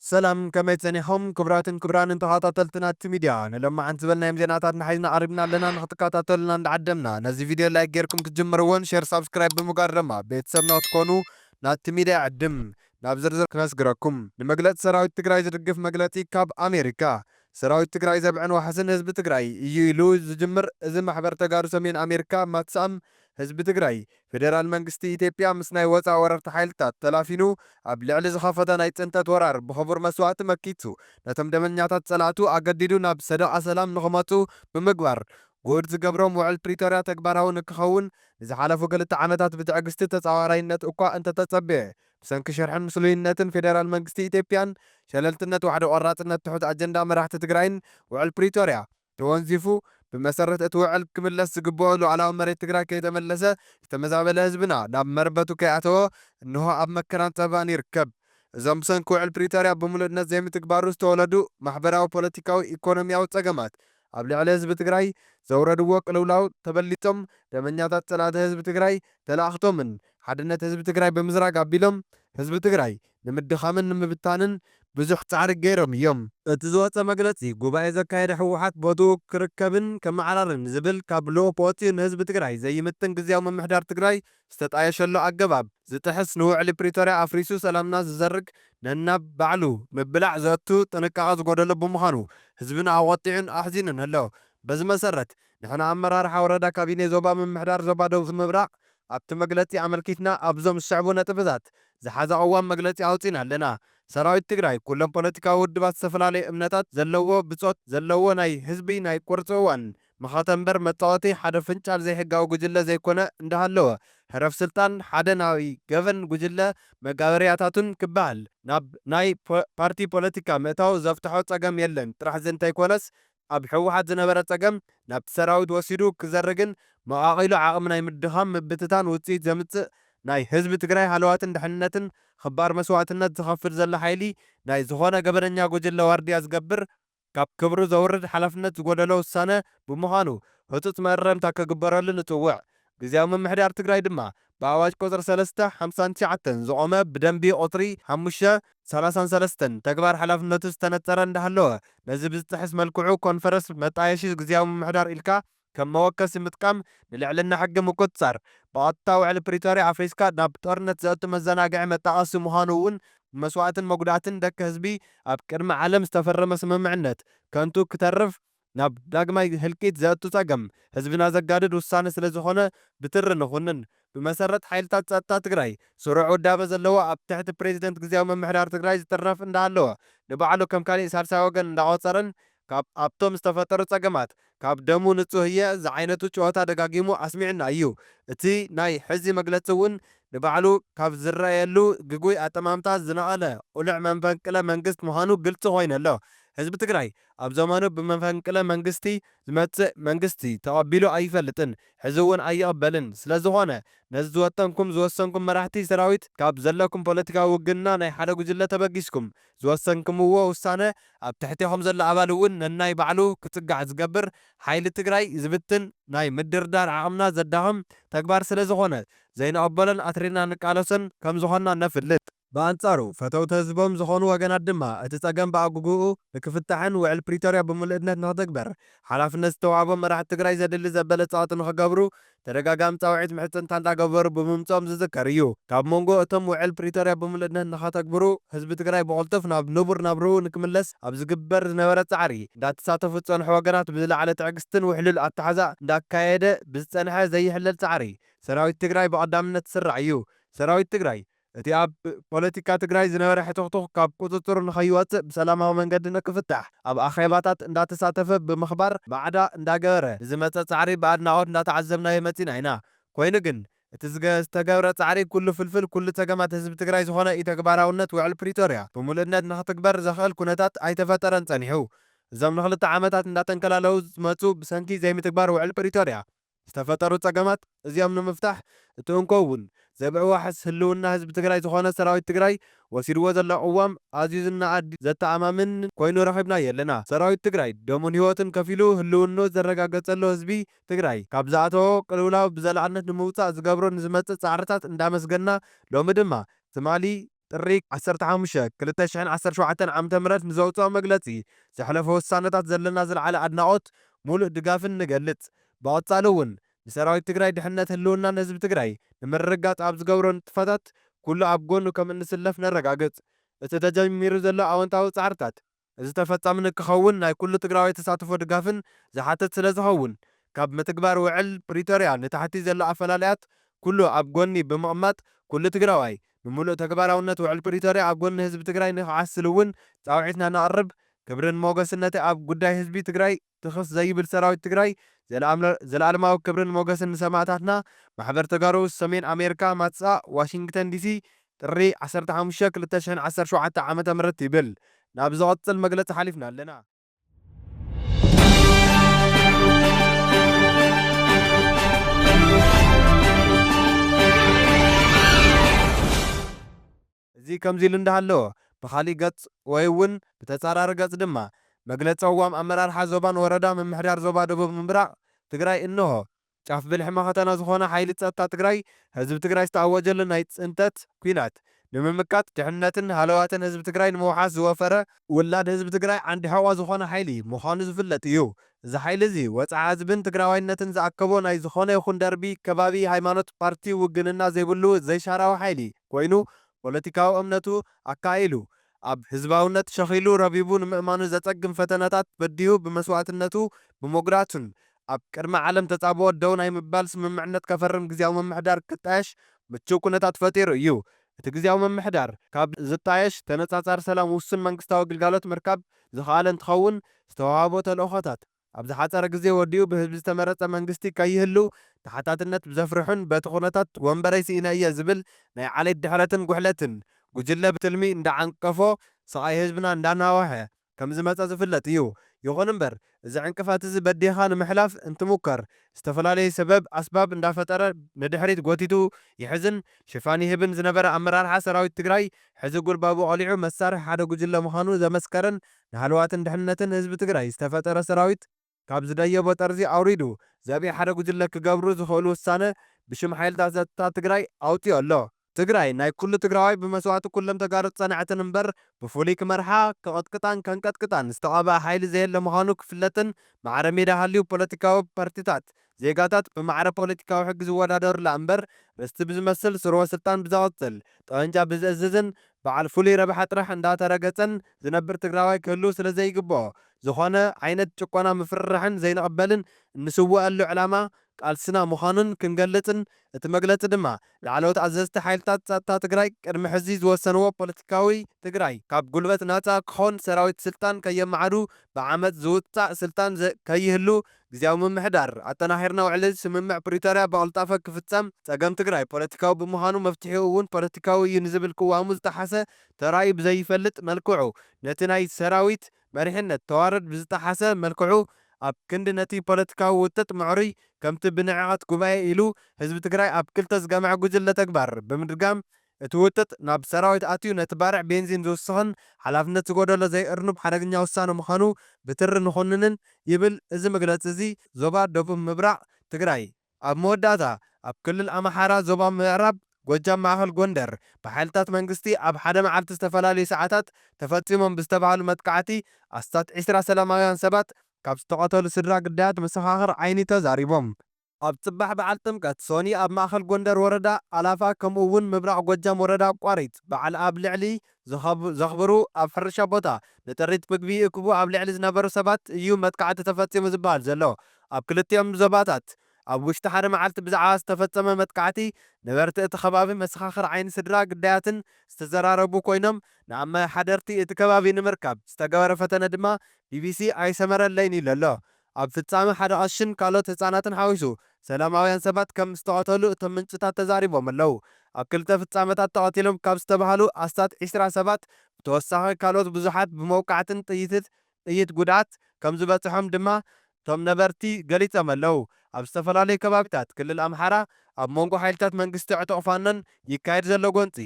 ሰላም ከመይ ጸኒሖም ክብራትን ክብራንን ተኻታተልቲ ናቲ ሚድያ ንሎማዓንቲ ዝበልናዮም ዜናታትና ሒዝና ቀሪብና ኣለና ንኽትካታተሉና እንዳዓደምና ነዚ ቪድዮ ላይክ ጌርኩም ክትጅምርዎን ሸር ሳብስክራይብ ብምግባር ደማ ቤተሰብና ክትኮኑ ናቲ ሚድያ ይዕድም ናብ ዝርዝር ክነስግረኩም ንመግለጺ ሰራዊት ትግራይ ዝድግፍ መግለጺ ካብ ኣሜሪካ ሰራዊት ትግራይ ዘብዕን ዋሕስን ህዝቢ ትግራይ እዩ ኢሉ ዝጅምር እዚ ማሕበር ተጋሩ ሰሜን ኣሜሪካ ማትስኣም ህዝቢ ትግራይ፣ ፌደራል መንግስቲ ኢትዮጵያ ምስ ናይ ወጻኢ ወረርቲ ሓይልታት ተላፊኑ ኣብ ልዕሊ ዝኸፈቶ ናይ ጽንተት ወራር ብኽቡር መስዋእቲ መኪቱ ነቶም ደመኛታት ጸላእቱ ኣገዲዱ ናብ ሰደቓ ሰላም ንኽመጹ ብምግባር ግሁድ ዝገብሮም ውዕል ፕሪቶርያ ተግባራዊ ንክኸውን ንዝሓለፉ ክልተ ዓመታት ብትዕግስቲ ተጻዋራይነት እኳ እንተተጸበየ ብሰንኪ ሽርሕን ምስሉይነትን ፌደራል መንግስቲ ኢትዮጵያን ሸለልትነት ዋሕዲ ቆራጽነት ትሑት ኣጀንዳ መራሕቲ ትግራይን ውዕል ፕሪቶርያ ተወንዚፉ ብመሰረት እቲ ውዕል ክምለስ ዝግበኦ ሉኣላዊ መሬት ትግራይ ከይተመለሰ ዝተመዛበለ ህዝብና ናብ መረበቱ ከይኣተወ እነሆ ኣብ መከራን ፀበባን ይርከብ። እዞም ብሰንኪ ውዕል ፕሪቶርያ ብሙሉእነት ዘይምትግባሩ ዝተወለዱ ማሕበራዊ፣ ፖለቲካዊ፣ ኢኮኖሚያዊ ፀገማት ኣብ ልዕሊ ህዝቢ ትግራይ ዘውረድዎ ቅልውላው ተበሊፆም ደመኛታት ፀላእቲ ህዝቢ ትግራይ ተለኣኽቶምን ሓድነት ህዝቢ ትግራይ ብምዝራግ ኣቢሎም ህዝቢ ትግራይ ንምድኻምን ንምብታንን ብዙሕ ፃዕሪ ገይሮም እዮም። እቲ ዝወፀ መግለፂ ጉባኤ ዘካየደ ህወሓት ቦትኡ ክርከብን ከመዓራርን ዝብል ካብ ልኡኽ ወፂኡ ንህዝቢ ትግራይ ዘይምጥን ግዝያዊ ምምሕዳር ትግራይ ዝተጣየሸሉ ኣገባብ ዝጥሕስ ንውዕሊ ፕሪቶርያ ኣፍሪሱ ሰላምና ዝዘርግ ነናብ ባዕሉ ምብላዕ ዘእቱ ጥንቃቐ ዝጎደሎ ብምዃኑ ህዝብና ኣቖጢዑን ኣሕዚኑን ኣሎ። በዚ መሰረት ንሕና ኣመራርሓ ወረዳ ካቢኔ ዞባ ምምሕዳር ዞባ ደቡብ ምብራቕ ኣብቲ መግለጺ ኣመልኪትና ኣብዞም ዝስዕቡ ነጥብታት ዝሓዘ ቅዋም መግለጺ ኣውጺእና ኣለና። ሰራዊት ትግራይ ኩሎም ፖለቲካዊ ውድባት ዝተፈላለየ እምነታት ዘለዎ ብጾት ዘለዎ ናይ ህዝቢ ናይ ቁርጺ እዋን መኸተ እምበር መጻወቲ ሓደ ፍንጫል ዘይሕጋዊ ጉጅለ ዘይኮነ እንዳሃለወ ህረፍ ስልጣን ሓደ ናይ ገበን ጉጅለ መጋበርያታቱን ክበሃል ናብ ናይ ፓርቲ ፖለቲካ ምእታው ዘፍትሖ ጸገም የለን ጥራሕ ዝእንተይኮነስ ኣብ ህወሓት ዝነበረ ፀገም ናብቲ ሰራዊት ወሲዱ ክዘርግን መቓቒሉ ዓቕሚ ናይ ምድኻም ምብትታን ውፅኢት ዘምፅእ ናይ ህዝቢ ትግራይ ሃለዋትን ድሕንነትን ኽባር መስዋእትነት ዝኸፍል ዘሎ ሓይሊ ናይ ዝኾነ ገበነኛ ጉጅለ ዋርድያ ዝገብር ካብ ክብሩ ዘውርድ ሓላፍነት ዝጎደሎ ውሳነ ብምዃኑ ህፁፅ መእረምታ ክግበረሉ ንፅውዕ። ግዝያዊ ምምሕዳር ትግራይ ድማ ብኣዋጅ ቁፅሪ ሰለስተ፣ ሓምሳን ትሽዓተን ዝቖመ ብደንቢ ቁፅሪ ሓሙሽተ፣ ሰላሳን ሰለስተን ተግባር ሓላፍነቱ ዝተነፀረ እንዳሃለወ ነዚ ብዝጥሕስ መልክዑ ኮንፈረስ መጣየሺ ግዝያዊ ምምሕዳር ኢልካ ከም መወከሲ ምጥቃም ንልዕልና ሕጊ ምቁፅፃር ብቐጥታ ውዕሊ ፕሪቶርያ ኣፍሪስካ ናብ ጦርነት ዘእቱ መዘናግዒ መጣቐሲ ምዃኑ እውን ብመስዋእትን መጉዳእትን ደቂ ህዝቢ ኣብ ቅድሚ ዓለም ዝተፈረመ ስምምዕነት ከንቱ ክተርፍ ናብ ዳግማይ ህልቂት ዘእቱ ፀገም ህዝብና ዘጋድድ ውሳነ ስለዝኾነ ብትሪ ንኹንን። ብመሰረት ሓይልታት ፀጥታ ትግራይ ስሩዕ ውዳበ ዘለዎ ኣብ ትሕቲ ፕሬዝደንት ግዝያዊ ምምሕዳር ትግራይ ዝጥርነፍ እንዳሃለወ ንባዕሉ ከም ካሊእ ሳልሳይ ወገን እንዳቖፀረን ካብ ኣብቶም ዝተፈጠሩ ፀገማት ካብ ደሙ ንፁህ እየ ዝዓይነቱ ጨወታ ደጋጊሙ ኣስሚዑና እዩ። እቲ ናይ ሕዚ መግለፂ እውን ንባዕሉ ካብ ዝረኣየሉ ግጉይ ኣጠማምታ ዝነቐለ ቑልዕ መንፈንቅለ መንግስት ምዃኑ ግልፂ ኮይኑ ኣሎ። ህዝቢ ትግራይ ኣብ ዘመኑ ብመፈንቅለ መንግስቲ ዝመጽእ መንግስቲ ተቐቢሉ ኣይፈልጥን ሕዚ እውን ኣይቕበልን ስለዝኾነ ነዚ ዝወጠንኩም ዝወሰንኩም መራሕቲ ሰራዊት ካብ ዘለኩም ፖለቲካዊ ውግንና ናይ ሓደ ጉጅለ ተበጊስኩም ዝወሰንክምዎ ውሳነ ኣብ ትሕቴኹም ዘሎ ኣባል እውን ነናይ ባዕሉ ክጽጋዕ ዝገብር ሓይሊ ትግራይ ዝብትን ናይ ምድርዳር ዓቕምና ዘዳኽም ተግባር ስለዝኾነ ዘይንቐበሎን ኣትሪርና ንቃለሶን ከምዝኾንና ነፍልጥ። ብኣንጻሩ፣ ፈተውቲ ህዝቦም ዝኾኑ ወገናት ድማ፣ እቲ ጸገም ብኣጉጉኡ ንክፍታሕን ውዕል ፕሪቶርያ ብምሉእነት ንክትግበር ሓላፍነት ዝተዋህቦም መራሕቲ ትግራይ ዘድሊ ዘበለ ጸቕጢ ንክገብሩ ተደጋጋሚ ጻውዒት ምሕጽንታ እንዳገበሩ ብምምጽኦም ዝዝከር እዩ። ካብ ሞንጎ እቶም ውዕል ፕሪቶርያ ብምሉእነት ንከተግብሩ ህዝቢ ትግራይ ብቕልጡፍ ናብ ንቡር ናብርኡ ንክምለስ ኣብ ዝግበር ዝነበረ ጻዕሪ እንዳተሳተፉ ዝጸንሑ ወገናት ብዝለዓለ ትዕግስትን ውሕሉል ኣተሓሕዛ እንዳካየደ ብዝጸንሐ ዘይሕለል ጻዕሪ ሰራዊት ትግራይ ብቐዳምነት ዝስራዕ እዩ። ሰራዊት ትግራይ እቲ ኣብ ፖለቲካ ትግራይ ዝነበረ ሕትኽቱኽ ካብ ቁፅፅር ንኸይወፅእ ብሰላማዊ መንገዲ ንክፍታሕ ኣብ ኣኼባታት እንዳተሳተፈ ብምኽባር ማዕዳ እንዳገበረ ንዝመፀ ፃዕሪ ብኣድናቖት እንዳተዓዘብናዮ መፂና ኢና። ኮይኑ ግን እቲ ዝተገብረ ፃዕሪ ኩሉ ፍልፍል ኩሉ ፀገማት ህዝቢ ትግራይ ዝኾነ ኢተግባራውነት ውዕል ፕሪቶርያ ብሙሉእነት ንክትግበር ዘኽእል ኩነታት ኣይተፈጠረን ፀኒሑ። እዞም ንኽልተ ዓመታት እንዳተንከላለዉ ዝመፁ ብሰንኪ ዘይምትግባር ውዕል ፕሪቶርያ ዝተፈጠሩ ፀገማት እዚኦም ንምፍታሕ እቲ እንኮ እውን ዘብዒ ዋሕስ ህልውና ህዝቢ ትግራይ ዝኾነ ሰራዊት ትግራይ ወሲድዎ ዘሎ ቅዋም ኣዝዩ ዝነኣድ ዘተኣማምን ኮይኑ ረኺብናዮ ኣለና። ሰራዊት ትግራይ ደሙን ህይወቱን ከፊሉ ህልውንኡ ዘረጋገፀሉ ህዝቢ ትግራይ ካብ ዝኣተዎ ቅልውላው ብዘላቕነት ንምውፃእ ዝገብሮ ንዝመፅእ ፃዕርታት እንዳመስገንና ሎሚ ድማ ትማሊ ጥሪ ዓሰርተ ሓሙሽተ፣ ክልተ ሽሕን ዓሰርተ ሸውዓተን ዓመተ ምህረት ንዘውጽኦ መግለጺ ዘሕለፎ ውሳነታት ዘለና ዝለዓለ ኣድናቖት ሙሉእ ድጋፍን ንገልጽ። ብቐጻሊ እውን ንሰራዊት ትግራይ ድሕነት ህልውናን ህዝቢ ትግራይ ንምርግጋጽ ኣብ ዝገብሮ ንጥፈታት ኩሉ ኣብ ጎኑ ከምእንስለፍ ነረጋግጽ። እቲ ተጀሚሩ ዘሎ ኣወንታዊ ጻዕርታት እዚ ተፈፃሚ ንክኸውን ናይ ኩሉ ትግራዋይ ተሳትፎ ድጋፍን ዝሓትት ስለዝኸውን ካብ ምትግባር ውዕል ፕሪቶርያ ንታሕቲ ዘሎ ኣፈላላያት ኩሉ ኣብ ጎኒ ብምቕማጥ ኩሉ ትግራዋይ ንሙሉእ ተግባራውነት ውዕል ፕሪቶርያ ኣብ ጎኒ ህዝቢ ትግራይ ንክዓስል እውን ፃውዒትና ነቕርብ። ክብርን ሞገስን ነቲ ኣብ ጉዳይ ህዝቢ ትግራይ ትኽስ ዘይብል ሰራዊት ትግራይ ዘለኣለማዊ ክብርን ሞገስን ንሰማእታትና ማሕበር ተጋሩ ሰሜን ኣሜርካ ማትስኣ ዋሽንግተን ዲሲ ጥሪ ዓሰርተ ሓሙሽተ ክልተ ሽሕን ዓሰርተ ሸውዓተ ዓመተ ምህረት ይብል ናብ ዝቕፅል መግለፂ ሓሊፍና ኣለና። እዚ ከምዚ ኢሉ እንዳሃለወ፣ ብኻሊእ ገፅ ወይ እውን ብተፃራሪ ገፅ ድማ መግለፂ ቅዋም ኣመራርሓ ዞባን ወረዳ ምምሕዳር ዞባ ደቡብ ምብራቕ ትግራይ እነሆ። ጫፍ ብልሒ መኸተና ዝኾነ ሓይሊ ፀጥታ ትግራይ ህዝቢ ትግራይ ዝተኣወጀሉ ናይ ፅንተት ኲናት ንምምካት ድሕንነትን ሃለዋትን ህዝቢ ትግራይ ንምውሓስ ዝወፈረ፣ ውላድ ህዝቢ ትግራይ ዓንዲ ሕቖ ዝኾነ ሓይሊ ምዃኑ ዝፍለጥ እዩ። እዚ ሓይሊ እዚ ወጽዓ ህዝብን ትግራዋይነትን ዝኣከቦ ናይ ዝኾነ ይኹን ደርቢ፣ ከባቢ፣ ሃይማኖት፣ ፓርቲ፣ ውግንና ዘይብሉ ዘይሻራዊ ሓይሊ ኮይኑ ፖለቲካዊ እምነቱ ኣከኣኢሉ ኣብ ህዝባውነት ሸኺሉ ረቢቡ ንምእማኑ ዘጸግም ፈተነታት በዲሁ ብመስዋእትነቱ ብሞግዳቱን ኣብ ቅድሚ ዓለም ተጻብኦ ደው ናይ ምባል ስምምዕነት ከፈርም ግዝያዊ ምምሕዳር ክጣየሽ ምቹው ኩነታት ፈጢሩ እዩ። እቲ ግዝያዊ ምምሕዳር ካብ ዝጣየሽ ተነፃፃሪ ሰላም ውሱን መንግስታዊ ግልጋሎት ምርካብ ዝኸኣለ እንትኸውን ዝተውሃቦ ተልእኾታት ኣብ ዝሓፀረ ግዜ ወዲኡ ብህዝቢ ዝተመረፀ መንግስቲ ከይህሉ ተሓታትነት ብዘፍርሑን በቲ ኩነታት ወንበረይ ስኢነ እየ ዝብል ናይ ዓሌት ድሕረትን ጉሕለትን ጉጅለ ብትልሚ እንዳዓንቀፎ ስቓይ ህዝብና እንዳናወሐ ከም ዝመጸ ዝፍለጥ እዩ። ይኹን እምበር እዚ ዕንቅፋት እዚ በዲህኻ ንምሕላፍ እንትሙከር ዝተፈላለዩ ሰበብ ኣስባብ እንዳፈጠረ ንድሕሪት ጎቲቱ ይሕዝን ሽፋን ይህብን ዝነበረ ኣመራርሓ ሰራዊት ትግራይ ሕዚ ጉልባቡ ቀሊዑ መሳርሒ ሓደ ጉጅለ ምዃኑ ዘመስከረን ንሃለዋትን ድሕንነትን ህዝቢ ትግራይ ዝተፈጠረ ሰራዊት ካብ ዝደየቦ ጠርዚ ኣውሪዱ ዘብኢ ሓደ ጉጅለ ክገብሩ ዝኽእሉ ውሳነ ብሽም ሓይልታት ፀጥታ ትግራይ ኣውፂኡ ኣሎ። ትግራይ ናይ ኩሉ ትግራዋይ ብመስዋእቲ ኩሎም ተጋሩ ዝፀንዐትን እምበር ብፍሉይ ክመርሓ፣ ክቕጥቅጣን ከንቀጥቅጣን ዝተቐበኣ ሓይሊ ዘየለ ምዃኑ ክፍለጥን ማዕረ ሜዳ ሃልዩ ፖለቲካዊ ፓርቲታት ዜጋታት ብማዕረ ፖለቲካዊ ሕጊ ዝወዳደሩላ እምበር ርስቲ ብዝመስል ስርወ ስልጣን ብዘቐፅል፣ ጠበንጃ ብዝእዝዝን በዓል ፍሉይ ረብሓ ጥራሕ እንዳተረገፀን ዝነብር ትግራዋይ ክህልው ስለዘይግበኦ ዝኾነ ዓይነት ጭቆና ምፍርራሕን ዘይንቕበልን እንስወኣሉ ዕላማ ቃልስና ምዃኑን ክንገልፅን እቲ መግለፂ ድማ ላዕለዎት ኣዘዝቲ ሓይልታት ፀጥታ ትግራይ ቅድሚ ሕዚ ዝወሰንዎ ፖለቲካዊ ትግራይ ካብ ጉልበት ናፃ ክኾን ሰራዊት ስልጣን ከየመዓዱ ብዓመፅ ዝውፃእ ስልጣን ከይህሉ ግዝያዊ ምምሕዳር ኣጠናኺርና ውዕሊ ስምምዕ ፕሪቶርያ ብቕልጣፈ ክፍፀም ፀገም ትግራይ ፖለቲካዊ ብምዃኑ መፍትሒኡ እውን ፖለቲካዊ እዩ ንዝብል ቅዋሙ ዝጠሓሰ ተራእዩ ብዘይፈልጥ መልክዑ ነቲ ናይ ሰራዊት መሪሕነት ተዋረድ ብዝጠሓሰ መልክዑ ኣብ ክንዲ ነቲ ፖለቲካዊ ውጥጥ ምዕሩይ ከምቲ ብንዕቐት ጉባኤ ኢሉ ህዝቢ ትግራይ ኣብ ክልተ ዝገምዐ ጉጅለ ተግባር ብምድጋም እቲ ውጥጥ ናብ ሰራዊት ኣትዩ ነቲ ባርዕ ቤንዚን ዝውስኽን ሓላፍነት ዝጎደሎ ዘይእርኑብ ሓደገኛ ውሳነ ምዃኑ ብትሪ ንኹንንን ይብል እዚ መግለጺ እዚ። ዞባ ደቡብ ምብራቕ ትግራይ። ኣብ መወዳእታ፣ ኣብ ክልል ኣምሓራ ዞባ ምዕራብ ጎጃም ማእኸል ጎንደር ብሓይልታት መንግስቲ ኣብ ሓደ መዓልቲ ዝተፈላለዩ ሰዓታት ተፈፂሞም ብዝተብሃሉ መጥቃዕቲ ኣስታት ዕስራ ሰላማውያን ሰባት ካብ ዝተቐተሉ ስድራ ግዳያት መሰኻኽር ዓይኒ ተዛሪቦም። ኣብ ፅባሕ በዓል ጥምቀት ሶኒ ኣብ ማእኸል ጎንደር ወረዳ ኣላፋ ከምኡ እውን ምብራቕ ጎጃም ወረዳ ቋሪት በዓል ኣብ ልዕሊ ዘኽብሩ ኣብ ሕርሻ ቦታ ንጥሪት ምግቢ ይእክቡ ኣብ ልዕሊ ዝነበሩ ሰባት እዩ መጥቃዕቲ ተፈፂሙ ዝበሃል ዘሎ። ኣብ ክልቲኦም ዞባታት ኣብ ውሽጢ ሓደ መዓልቲ ብዛዕባ ዝተፈፀመ መጥቃዕቲ ነበርቲ እቲ ከባቢ፣ መሰኻኽር ዓይኒ፣ ስድራ ግዳያትን ዝተዘራረቡ ኮይኖም ንኣመሓደርቲ እቲ ከባቢ ንምርካብ ዝተገበረ ፈተነ ድማ ቢቢሲ ኣይሰመረለይን ኢሉ ኣሎ። ኣብ ፍጻመ ሓደ ቀሺን ካልኦት ህጻናትን ሓዊሱ ሰላማውያን ሰባት ከም ዝተቐተሉ እቶም ምንጭታት ተዛሪቦም ኣለው። ኣብ ክልተ ፍጻመታት ተቐቲሎም ካብ ዝተባህሉ ኣስታት ዕስራ ሰባት ብተወሳኺ ካልኦት ብዙሓት ብመውቃዕትን ጥይትት ጥይት ጉድኣት ከም ዝበጽሖም ድማ እቶም ነበርቲ ገሊጾም ኣለው። ኣብ ዝተፈላለዩ ከባቢታት ክልል ኣምሓራ ኣብ መንጎ ሓይልታት መንግስቲ ዕጡቕ ፋኖን ይካየድ ዘሎ ጎንጺ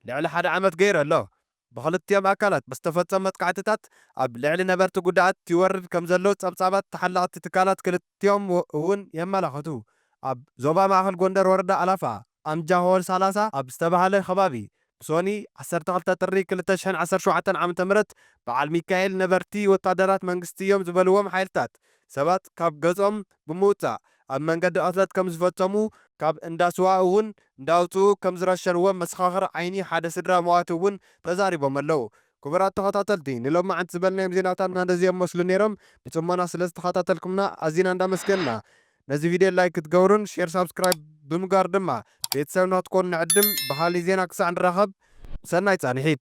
ልዕሊ ሓደ ዓመት ገይሩ ኣሎ። ብኽልቲኦም ኣካላት ብዝተፈፀሙ መጥቃዕቲታት ኣብ ልዕሊ ነበርቲ ጉድኣት ይወርድ ከምዘሎ ፀብፃባት ተሓለቕቲ ትካላት ክልቲኦም እውን የመላኽቱ። ኣብ ዞባ ማእኸል ጎንደር ወረዳ ኣላፋ ኣምጃሆል ሳላሳ ኣብ ዝተብሃለ ኸባቢ ብሶኒ ዓሰርተ ክልተ ጥሪ ክልተ ሽሕን ዓሰርተ ሸውዓተን ዓመተ ምህረት በዓል ሚካኤል ነበርቲ ወታደራት መንግስቲ እዮም ዝበልዎም ሓይልታት ሰባት ካብ ገዝኦም ብምውጻእ ኣብ መንገዲ ቅትለት ከም ዝፈጸሙ፣ ካብ እንዳ ስዋ እውን እንዳውጽኡ ከም ዝረሸንዎም መሰኻኽር ዓይኒ ሓደ ስድራ መዋቲ እውን ተዛሪቦም ኣለዉ። ክቡራት ተኸታተልቲ ንሎማዕንቲ ዝበልናዮም ዜናታትና ነዚኦም መስሉ ነይሮም። ብጽሞና ስለ ዝተኸታተልኩምና ኣዚና እንዳመስገንና ነዚ ቪድዮ ላይክ ክትገብሩን ሼር ሳብስክራይብ ብምግባር ድማ ቤተሰብና ክትኮኑ ንዕድም። ብኻሊእ ዜና ክሳዕ ንራኸብ ሰናይ ጻንሒት።